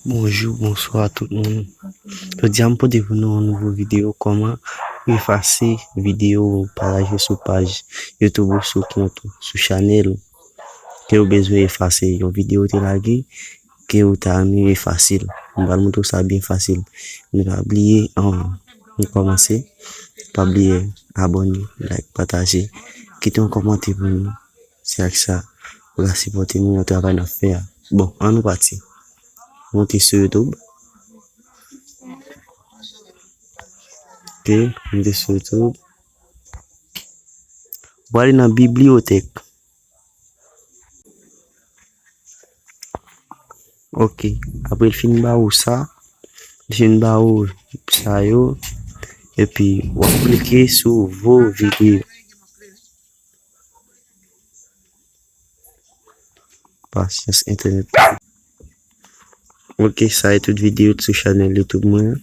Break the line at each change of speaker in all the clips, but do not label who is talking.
Bonjou bonswa tout moun jodi a m pote pou nou yon nouvo video kòman efase video ou pataje sou paj youtube ou sou kont ou sou chanèl ou ke ou bezwen efase yon video ou te lage ke ou ta renmen efase l m pral montre w sa byen fasil men pa bliye anvan nou kòmanse pa bliye abòne like pataje kite yon kòmante pou nou. Se ak sa pou ka sipòte nou nan travay n ap fè a. Bon, an nou pati. Monte sou YouTube. Ok, monte sou YouTube. Ou ale nan bibliyotèk. Ok, apre l fin ba ou sa, li fin ba ou sa yo, epi w ap klike sou vou videyo. Pasyans entènèt pa gen. Ok sa e tout video t sou chanel youtube mwen an.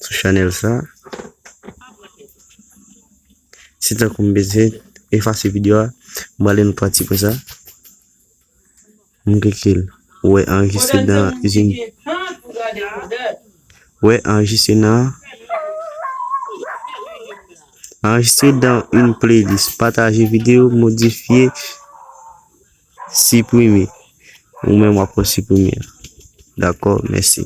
Sou chanel sa. Si tan kou m bezyen efase video a, m ale m pati pou sa. M klike l. Wè anrejistre nan izin. Wè anrejistre nan. Anrejistre dan yn playlist. Pataje video, modifye, siprime. Ou menm wap pran siprime. Dakò, mèsi.